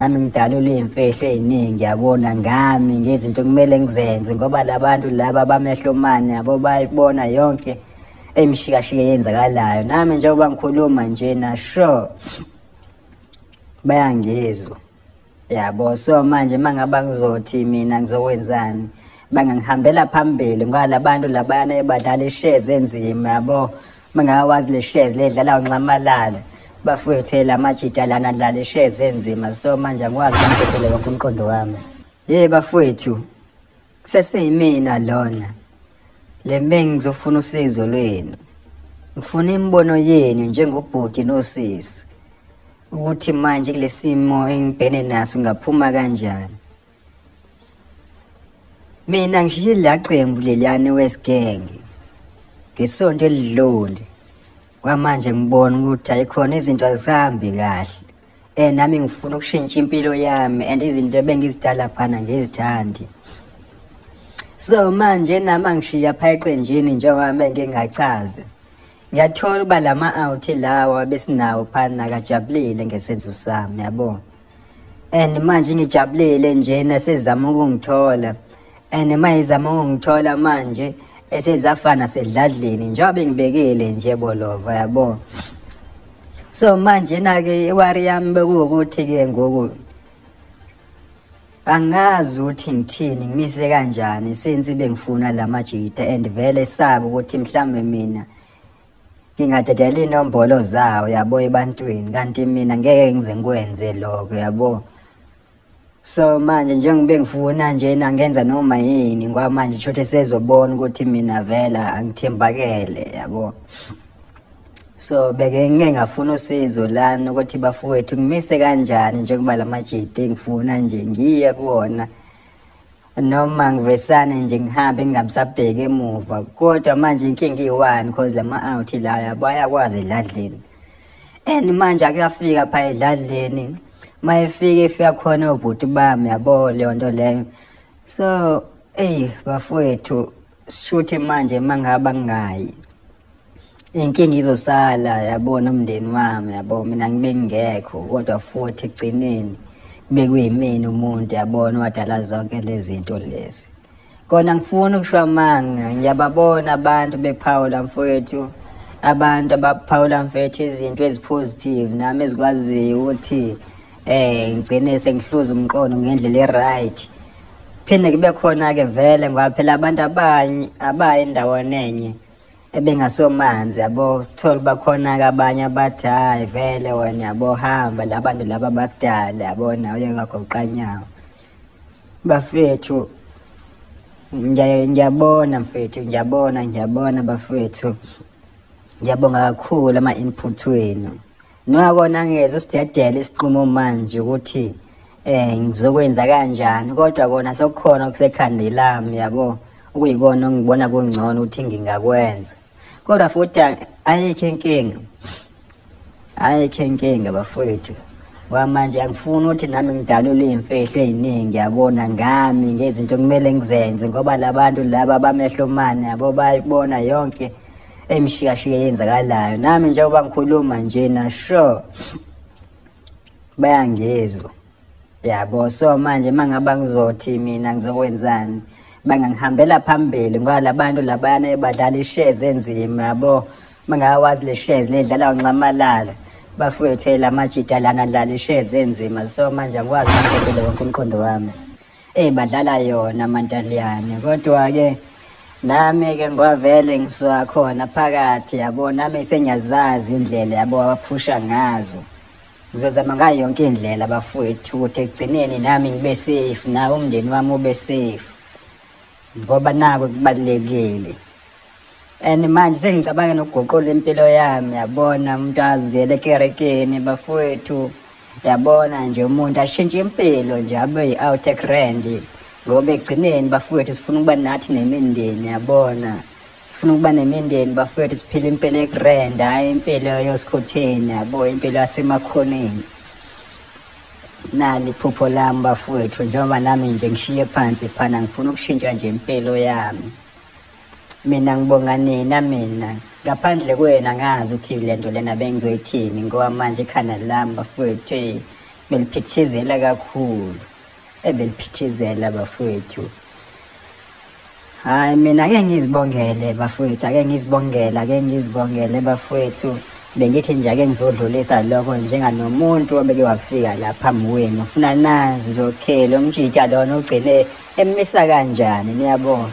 nami ngidalule iy'mfihlo ey'ningi yabona ngami ngezinto kumele ngizenze ngoba labantu laba bamehlomane yabo bayibona yonke emshikashike yenzakalayo nami njengoba ngikhuluma nje na sure bayangizwa yabo so manje mangaba ngizothi mina ngizokwenzani bangangihambela phambili ngoba labantu labayana ebadlala ishares enzima yabo mangawazi le shares ledlala unxamalala bafethe lamajita lana dlala ishares enzima so manje angikwazi ukuphetheleka kumqondo wami ye bafethu Seseyimina lona. Le bengizofuna usizo lwenu. Ngifuna imibono yenu njengobhuti nosisi ukuthi manje kulesimo engibhene naso ngaphuma kanjani. Mina ngishiye la qembu leliyane wesigenge. Ngesonto elidlule kwamanje ngibona ukuthi ayikhona izinto azisambi kahle. eh nami ngifuna ukushintsha impilo yami and izinto ebengizidala phana ngizithandi so manje nami angishiya pha eqenjini njengoba bengingachazi ngiyathola uba lama out lawa besinawo phana kajabulile ngesenzo sami yabo and manje ngijabulile nje nasezama ukungithola and mayizama ungithola manje esezafana sedladleni njengoba bengibekele nje bolova yabo so manje nake iwari yami bekuwukuthi ke ngoku angazi ukuthi ngithini ngimise kanjani since bengifuna lamajita and vele sabe ukuthi mhlambe mina ngingadedela inombolo zawo yabo ebantwini kanti mina ngeke ngize ngikwenze lokho yabo so manje njengoba ngifuna njena ngenza noma yini ngoba manje shothe sezobona ukuthi mina vela angithembakele yabo so beke ngeke ngafuna usizo lana ukuthi bafowethu ngimise kanjani njengoba lamajidi engifuna nje ngiye kuwona noma ngivesane nje ngihambe ngingabisabheki emuva kodwa manje inkinga iyi-one cause lama-outhi la yabo ayakwazi edladleni and manje akuyafika pha edladleni uma efika efika khona obhuti bami yabo leyo nto leyo so eyi bafowethu shuthi manje mangaba ngayi inkinga izosala yabona umndeni wami yabo mina ngibe ngingekho kodwa futhi ekugcineni kube kuyimina umuntu yabona wadala zonke lezi zinto lezi kona ngifuna ukusho amanga ngiyababona abantu bephawula mfowethu abantu abaphawula mfethu izinto ezipositive nami ezikwaziyo ukuthi eh ngigcine sengihluza umqondo ngendlela eright phinde kube khona ke vele ngoba phela abantu abanye abaye endaweni enye ebengasomanzi yabo thola bakhona ke abanye abathi hayi vele wena yabo hamba labantu laba bakudala yabo nawe uyewagoqanyawo bafethu ngiyabona mfethu ngiyabona ngiyabona bafethu ngiyabonga kakhulu ama-input wenu Nxa kona ngiyeza usidedele isiqumo manje ukuthi eh ngizokwenza kanjani kodwa kona sokukhona okusekhandi lami yabo okuyikona ngibona kungcono ukuthi ngingakwenza kodwa futhi ayikho inkinga ayikho inkinga bafowethu kwamanje angifuni ukuthi nami ngidalule iy'mfihlo ey'ningi yabona ngami ngezinto kumele ngizenze ngoba labantu laba bamehlo mane yabo bayibona yonke okay. emshikashike yenzakalayo nami njengoba ngikhuluma njena sure bayangizwa yabo so manje mangaba ngizothi mina ngizokwenzani bangangihambela phambili ngoba labantu labayana ebadlala ishares enzima yabo mangawazi le shares ledlala unxamalala bafowethu la majita lana dlala ishares enzima so manje angikwazi ukubhekela wonke umqondo wami Ey badlala yona amantaliyane kodwa ke nami ke ngwavele ngisuka khona phakathi yabo nami sengiyazazi indlela yabo abaphusha ngazo ngizozama ngayo yonke indlela bafowethu ukuthi ekugcineni nami ngibe safe nawo umndeni wami ube safe ngoba nako kubalulekile and manje sengicabanga nokuguqula impilo yami yabona umuntu aziyele ekerekeni bafowethu yabona nje umuntu ashintshe impilo nje abe yi-outec rand ngoba ekugcineni bafowethu sifuna ukuba nathi nemindeni yabona sifuna ukuba nemindeni bafowethu siphile impilo ekurand hhayi impilo yosikhotheni yabo impilo yasemakhoneni nali iphupho lami bafowethu njengoba nami nje ngishiye phansi phana ngifuna ukushintsha nje impilo yami mina ngibonga nina mina ngaphandle kwena ngazi ukuthi le nto lena bengizoyithini ngoba manje ikhanda lami bafowethu eyi beliphithizela kakhulu ebeliphithizela bafowethu hayi mina ake ngizibongele bafowethu ake ngizibongele ake ngizibongele bafowethu bengithi nje ake ngizodlulisa lokho njenganomuntu obeke wafika la phambi kwenu ufuna nazi lo okay lo mjita lona ugcine emisa kanjani niyabona